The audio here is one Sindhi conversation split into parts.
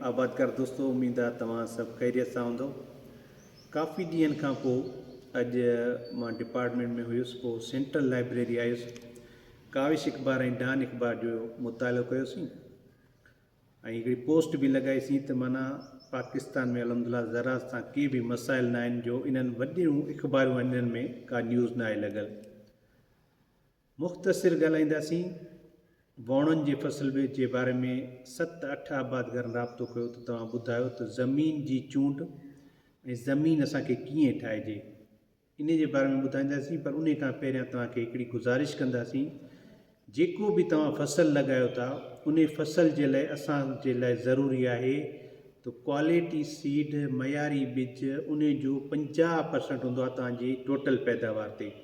آبادگار دوستو اميد آ توهان سڀ خيريت سان هوندؤ ڪافي ڏينهن کان پو اڄ مان ڊپارٽمينٽ ۾ هيس پو سينٽرل لائبريري آيس ڪاوش اخبار ۽ ڊان اخبار جو مطالعو ڪيو سين ۽ هڪڙي پوسٽ به لڳائي سين ته معنی پاڪستان ۾ الحمدلله زراعت سان ڪي به مسائل نه آهن جو انهن وڏيون اخبارون آهن انهن ۾ ڪا نيوز نه آهي لڳل مختصر ڳالهائينداسين. واڻن جي فصل ويهه جي باري ۾ ست اٺ آبادگارن رابطو ڪيو ته توهان ٻڌايو ته زمين جي چونڊ ۽ زمين اسان کي ڪيئن ٺاهجي انهي جي باري ۾ ٻڌائينداسين پر انهي کان پهريان توهان کي هڪڙي گذارش ڪنداسين جيڪو به توهان فصل لڳايو ٿا انهي فصل جي لاء اسان جي لاء ضروري آهي ته ڪواليٽي سيڊ معياري ٻج انهي جو پنجاهه پرسنٽ هوندو آهي توهان جي ٽوٽل پيداوار تي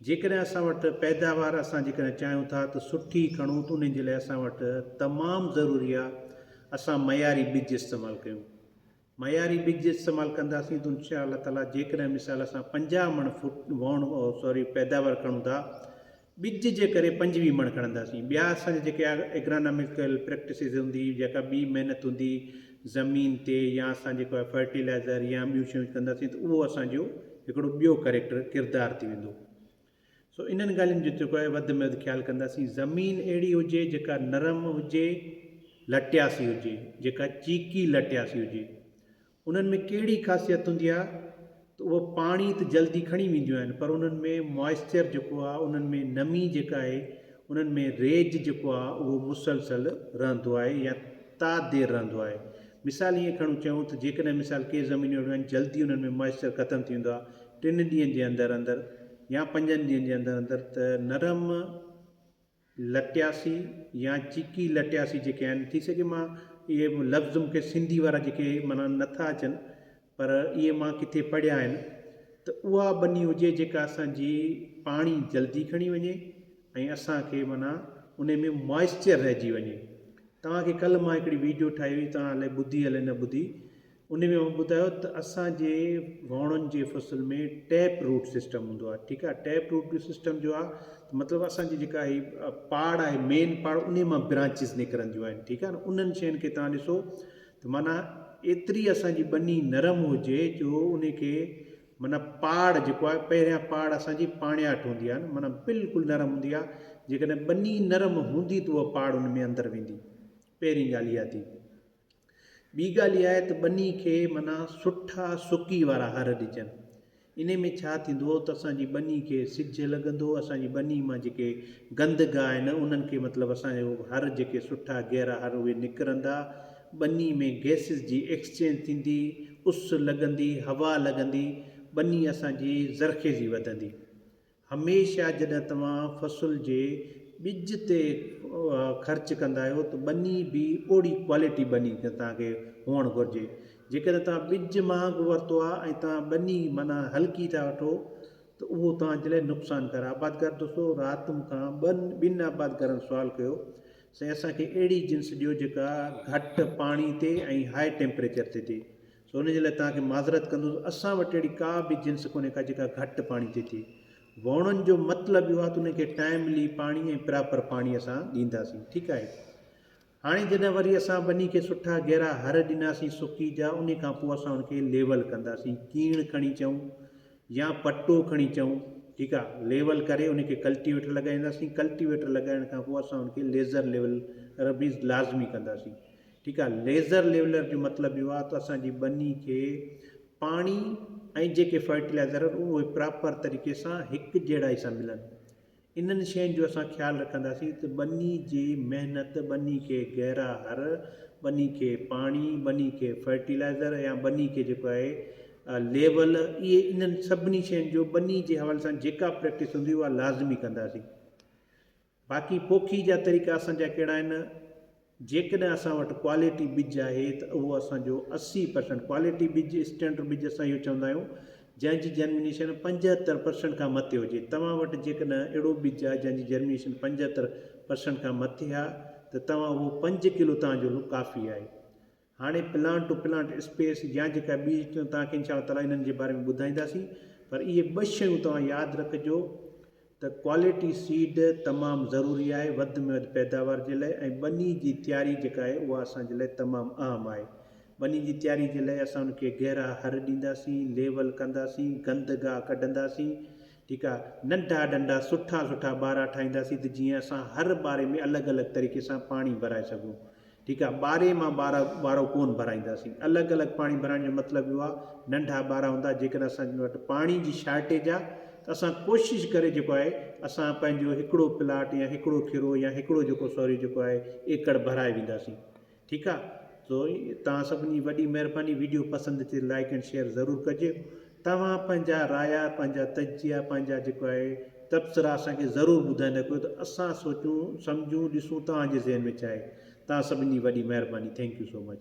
جيڪڏهن اسان وٽ پيداوار اسان جيڪڏهن چاهيون ٿا ته سٺي کڻون ته ان جي لاء اسان وٽ تمام ضروري آهي اسان معياري ٻج استعمال ڪيون. معياري ٻج استعمال ڪنداسين ته ان شاء الله تعاليٰ جيڪڏهن مثال اسان پنجاهه مڻ فوٽ وهڻ سوري پيداوار کڻون ٿا ٻج جي ڪري پنجويهه مڻ کڻنداسين ٻيا اسان جا جيڪي اگراناميڪل پريڪٽسز هوندي جيڪا ٻي محنت هوندي زمين تي يا اسان جيڪو آهي فرٽيلائزر يا ٻيون شيون ڪنداسين ته اهو اسان جو هڪڙو ٻيو ڪريڪٽر ڪردار ٿي ويندو سو انهن ڳالهين جو جيڪو آهي وڌ ۾ وڌ خيال ڪنداسين زمين اهڙي هجي جيڪا نرم هجي لٽياسي هجي جيڪا چيڪي لٽياسي هجي انهن ۾ ڪهڙي خاصيت هوندي آهي ته اهي پاڻي ته جلدي کڻي وينديون آهن پر انهن ۾ Moisture جيڪو آهي انهن ۾ نمي جيڪا آهي انهن ۾ ريج جيڪو آهي اهو مسلسل رهندو آهي يا تا دير رهندو آهي مثال ائين کڻو چيون ته جيڪڏهن مثال ڪي زمينون اهڙيون آهن جلدي انهن ۾ Moisture ختم ٿي ويندو آهي ٽن ڏينهن جي اندر اندر يا پنجن ڏينهن جي اندر اندر ته نرم لٽياسي يا چيڪي لٽياسي جيڪي آهن ٿي سگهي مان اهي لفظ مون کي سنڌي وارا جيڪي معنيٰ نه ٿا اچن پر اهي مان ڪٿي پڙهيا آهن ته اها ٻني هجي جيڪا اسان جي پاڻي جلدي کڻي وڃي ۽ اسان کي معنيٰ انهي ۾ موئسچر رهجي وڃي توهان کي ڪلهه مان هڪڙي ويڊيو ٺاهي هئي توهان الائي ٻڌي الائي نه ٻڌي ان ۾ هن ٻڌايو ته اسان جي واهڻن جي فصل ۾ ٽيپ روٽ سسٽم هوندو آهي ٺيڪ آهي ٽيپ روٽ جو سسٽم جو آهي ته مطلب اسان جي جيڪا هي پاڙ آهي مين پاڙ انهي مان برانچز نڪرنديون آهن ٺيڪ آهي نه انهن شين کي توهان ڏسو ته معنيٰ ايتري اسان جي ٻني نرم هجي جو انهي کي معنيٰ پاڙ جيڪو آهي پهريان پاڙ اسان جي پاڻياٺ هوندي آهي نه معنيٰ بلڪل نرم هوندي آهي جيڪڏهن ٻني نرم هوندي ته اها پاڙ ان ۾ اندر ويندي پهرين ڳالهه اها ٿي ٻي ڳالهه اها آهي ته ٻني کي معنيٰ سٺا سڪي وارا هر ڏجن. انهي ۾ ڇا ٿيندو ته اسان جي ٻني کي سج لڳندو، اسان جي ٻني مان جيڪي گند گاهه آهن انهن کي مطلب اسان جو هر جيڪي سٺا گيرا هر اهي نڪرندا، ٻني ۾ گئسز جي ايڪسچينج ٿيندي، اس لڳندي، هوا لڳندي، ٻني اسان جي زرخيزي وڌندي. هميشه جڏهن توهان فصل جي ٻج تي خرچ ڪندا آهيو ته ٻني به اوڙي ڪوالٽي ٻني توهان کي هئڻ گهرجي. جيڪڏهن توهان ٻج مهانگو ورتو آهي ۽ توهان ٻني معنيٰ هلڪي ٿا وٺو ته اهو توهان جي لاء نقصان ڪار آهي. آبادگار دوستو رات مون کان ٻن آبادگارن سوال ڪيو سائين اسان کي اهڙي جنس ڏيو جيڪا گهٽ پاڻي تي ۽ هاء ٽيمپريچر تي ٿئي سو ان جي لاء توهان کي معذرت ڪندس اسان وٽ اهڙي ڪا به جنس ڪونهي ڪا جيڪا گهٽ پاڻي تي ٿئي ووڻن جو مطلب اهو آهي ته انهن کي ٽائملي پاڻي ۽ پراپر پاڻي اسان ڏينداسين ٺيڪ آهي هاڻي جڏهن وري اسان ٻني کي سٺا گهرا هر ڏناسين سڪي جا انهي کان پوء اسان ان کي ليول ڪنداسين ڪيڻ کڻي چئون يا پٽو کڻي چئون ٺيڪ آهي ليول ڪري انهي کي ڪلٽيويٽر لڳائينداسين ڪلٽيويٽر لڳائڻ کان پوء اسان ان کي ليزر ليول ربيز لازمي ڪنداسين ٺيڪ آهي ليزر ليولر جو مطلب اهو آهي ته اسان جي ٻني کي پاڻي ۽ جيڪي فرٽيلائزر آهن اهي پراپر طريقي سان هڪجهڙائي سان ملن انهن شين جو اسان خيال رکنداسين ته ٻني جي محنت ٻني کي گهرا هر ٻني کي پاڻي ٻني کي فرٽيلائزر يا ٻني کي جيڪو آهي ليول اهي انهن سڀني شين جو ٻني جي حوالي سان جيڪا پريڪٽس هوندي اها لازمي ڪنداسين. باقي پوکي جا طريقا اسان جا ڪهڙا آهن؟ جيڪڏهن اسان وٽ ڪوالٽي ٻج آهي ته اهو اسان جو اسي پرسنٽ ڪوالٽي ٻج اسٽينڊرڊ ٻج اسان اهو چوندا آهيون جنهن جي جرمينيشن پنجهتر پرسنٽ کان مٿي هجي توهان وٽ جيڪڏهن اهڙو ٻج آهي جنهن جي جرمينيشن پنجهتر پرسنٽ کان مٿي آهي ته توهان اهو پنج ڪلو توهان جو ڪافي آهي هاڻي پلانٽ ٽو پلانٽ اسپيس يا جيڪا ٻي سٽم توهان کي ان شاء الله تعالٰي انهن جي باري ۾ ٻڌائينداسين پر اهي ٻه شيون توهان ياد رکجو ته ڪوالٽي سيڊ تمام ضروري آهي وڌ ۾ وڌ پيداوار جي لاء ۽ ٻني جي تياري جيڪا آهي اها اسان جي لاء تمام اهم آهي ٻني جي تياري جي لاء اسان ان کي گهرا هر ڏينداسين ليول ڪنداسين گند گاهه ڪڍنداسين ٺيڪ آهي ننڍا ڊنڊا سٺا سٺا ٻارا ٺاهينداسين ته جيئن اسان هر ٻاري ۾ الڳ الڳ طريقي سان پاڻي ڀرائي سگهون ٺيڪ آ ٻاري مان ٻارا ٻارو ڪون ڀرائينداسين الڳ الڳ پاڻي ڀرائڻ جو مطلب اهو آ ننڍا ٻارا هوندا جيڪڏهن اسان وٽ پاڻي جي شارٽيج آ ته اسان ڪوشش ڪري جيڪو آهي اسان پنهنجو هڪڙو پلاٽ يا هڪڙو کيرو يا هڪڙو جيڪو سوري جيڪو آهي ايڪڙ ڀرائي وينداسين ٺيڪ آ تو توهان سڀني جي وڏي مهرباني ويڊيو پسند اچي لائڪ اينڊ شيئر ضرور ڪجي توهان پنهنجا رايا، پنهنجا تجزيا، پنهنجا جيڪو آهي تبصرا اسان کي ضرور ٻڌائيندا ڪيو ته اسان سوچون، سمجهون، ڏسون توهان جي ذهن ۾ ڇا آهي. توهان سڀني جي وڏي مهرباني. Thank you so much.